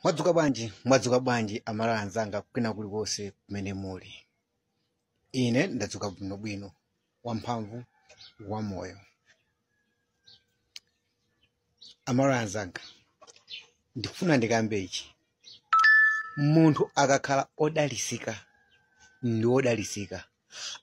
mwadzuka bwanji mwadzuka bwanji amalawi anzanga kwina kulikonse kumene muli ine ndadzuka bwinobwino wamphamvu wamoyo amalawi anzanga ndikufuna ndikambe ichi munthu akakhala odalisika ndi odalisika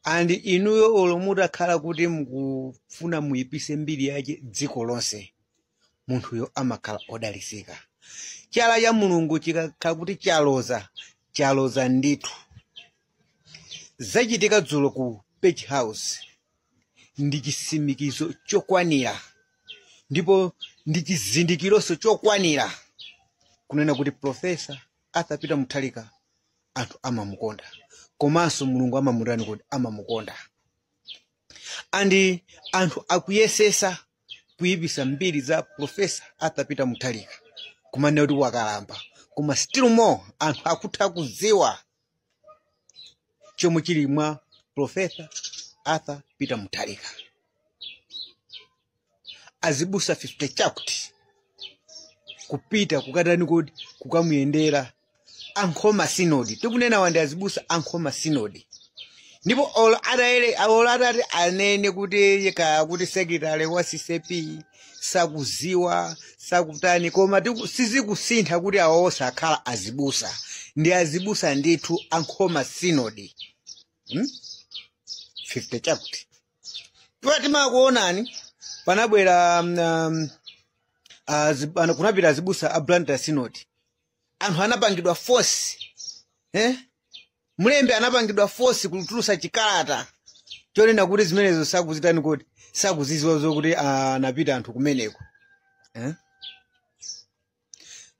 and inuyo olo mutakhala kuti mukufuna muyipise mbiri yache dziko lonse munthuyo amakhala odalisika chala cha mulungu chikakhala kuti chaloza chaloza ndithu zachitika dzulo ku page house ndi chisimikizo chokwanira ndipo ndi chizindikironso chokwanira kunena kuti profesa arthur peter mutharika anthu amamukonda komanso mulungu amamutani kodi amamukonda and anthu akuyesesa kuyipisa mbiri za profesa arthur peter mutharika kumanena kuti wakalamba koma still more anthu akutha kudziwa chomwe chili mwa profesa arthur peter mutharika azibusa 50 chakuti kupita kukatani kodi kukamuyendera ankhoma sinodi tikunena and azibusa ankhoma sinodi ndipo olo atatere olo atati anene kuti kaya kuti secretary wa ccap sakuziwa sakutani koma tiku- sizikusintha kuti awo sakhala azibusa ndi azibusa ndithu ankhoma sinodi hmm? 50 chakuti iwa timakuonani panabwera um, um, azi- ana- kunapita azibusa a blantyre sinodi anthu anapangidwa force eh? mlembi anapangidwa force kutulusa chikalata chonena kuti zimenezo sakuzitani kodi sakuziziwa zokuti ah, anapita anthu kumeneko eh?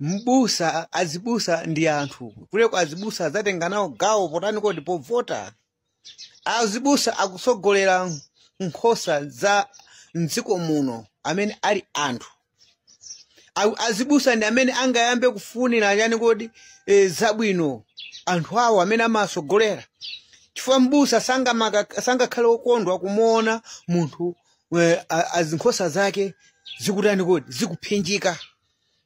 mbusa azibusa ndi anthu kaleko azibusa azatenga nawo gawo potani kodi povota azibusa akutsogolera nkhosa za mdziko muno amene ali anthu A- azibusa ndi amene angayambe kufunira chani kodi e, zabwino anthu awo amene amasogolera chifukwa mbusa sangamaka- sangakhale okondwa kumuona munthu e, a- azinkhosa zake zikutani kodi zikuphinjika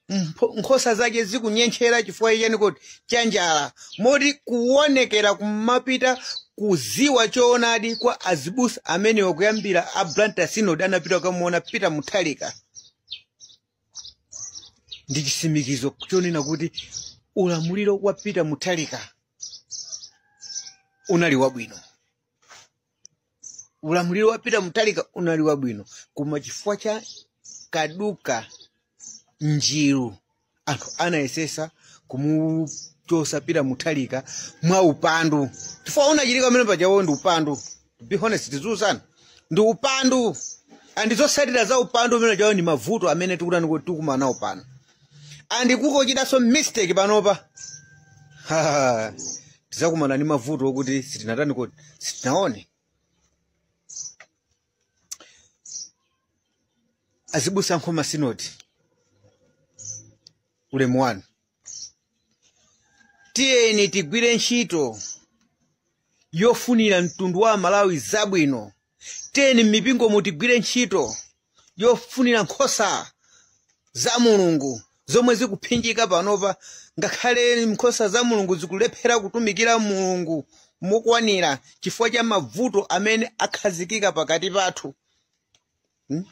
Mpho- nkhosa zake zikunyentchera chifukwa chani kodi chanjala moti kuwonekera kumapita kuziwa choonadi kwa azibusa amenewa kuyambira a blantyre synod anapita kukamuona peter mutharika ndi chisimikizo chonena kuti ulamuliro wa peter mutharika unali wabwino ulamuliro wa peter mutharika unali wabwino koma chifukwa cha kaduka njiru anthu anayesesa kumuchosa peter mutharika mwa upandu chifukwa unachitika pamene pajawo ndi upandu to be honest tiziuzana ndi upandu and zotsatira za upandu umene ujawo ndi mavuto amene tikutani kuti tikumana nawo pano and kungochitanso mistake panopa Ha, tizakumana ndi mavuto okuti sitinatani kodi sitinaone azibusa a nkhoma sinodi ulemu wanu tiyeni tigwire ntchito yofunira mtundu wa amalawi zabwino tiyeni m'mipingomu tigwire ntchito yofunira nkhosa za mulungu zomwe zikuphinjika panopa ngakhale nkhosa za mulungu zikulephera kutumikira mulungu mokwanira chifukwa cha mavuto amene akhazikika pakati pathu Hmm?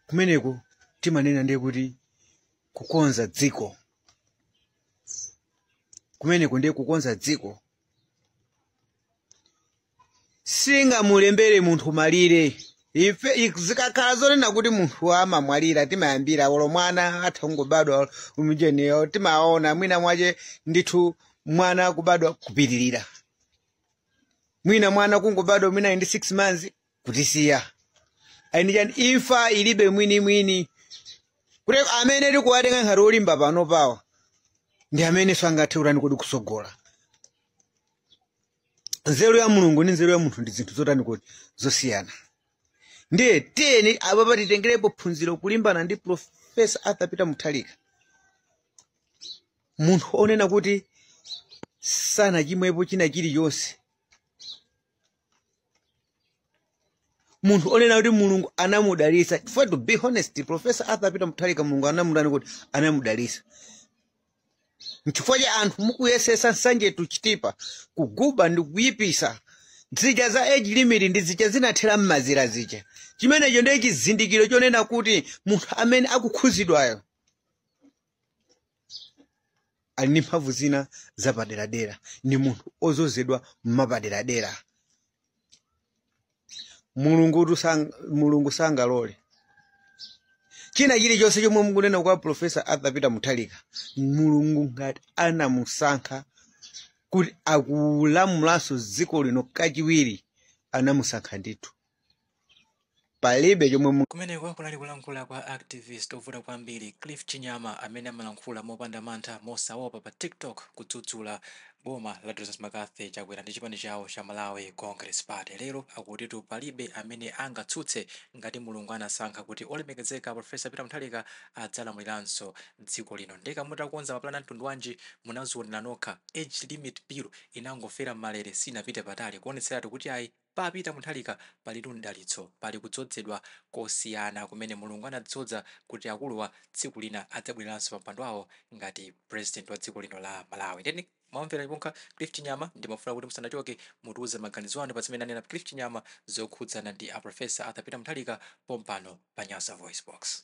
kumeneko timanena ndiye kuti kukonza dziko kumeneko ndiye kukonza dziko singamulembere munthu malire ife ik- zikakhala zonena kuti munthu amamwalira timayambira olo mwana atha kungobadwa umujeniyo timaona mwina mwache ndithu mwana kubadwa kupitirira mwina mwana kungobadwa mwina ndi 6 months kutisiya kaya ndi chani imfa ilibe mwinimwini kuti amene tikuwatenga ngati olimba panopawa ndi amene sangathe kutani kodi kusogola nzeru ya mulungu ndi nzeru ya munthu ndi zinthu zotani kodi zosiyana ndiye tiyeni apapa titengerepo phunziro kulimbana ndi profesa arthur peter mutharika munthu onena kuti sanachimwepo china chilichonse munthu onena kuti mulungu anamudalitsa chifukwa to be honest profesa arthur peter mutharika mulungu anamutani kuti anamudalitsa nchifukwa cha anthu mukuyesesa nsanje to chitipa kuguba ndi kuyipisa zija za age limit ndi zija zinathera mmazira zija chimenecho ndiye chizindikiro chonena kuti munthu amene akukhuzidwayo ali ndi mphamvu zina zapaderadera ndi munthu ozozedwa mwapaderadera mulungutu sang, mulungu sangalole china chilichonse chomwe mukunena kwa profesa arthur peter mutharika mulungu ngati anamusankha kuti akulamulanso dziko lino kachiwiri anamusankha ndithu palibe chomwe mu- kumeneko kunali kulankhula kwa activist ovuta kwambiri cliff chinyama amene amalankhula mopanda mantha mosaopa pa tiktok kudzudzula Boma la Dr Mccarthy Chakwera ndi chipani chawo cha Malawi Congress Party lero akutitu palibe amene angatsutse ngati Mulungu anasankha kuti olemekezeka Prof Peter Mutharika adzalamuliranso dziko lino nde ka mutakonza maplan a mtundu wanji munazionera nokha age limit bill inangofera m'malere sinapite patali kuonetseratu kuti ayi Pa Peter Mutharika pali mdalitso. Pali kudzodzedwa kosiyana kumene Mulungu anadzodza kuti akuluwa tsiku lina adzabwereranso pa mpando wawo ngati president wa dziko lino la Malawi. Ndiye mwamvera nokha Cliff Chinyama ndimafuna kuti musanachoke mutiuze maganizo anu pa zimene anena Cliff Chinyama zokhudzana ndi a Prof. Arthur Peter Mutharika pompano pa Nyasa VoiceBox.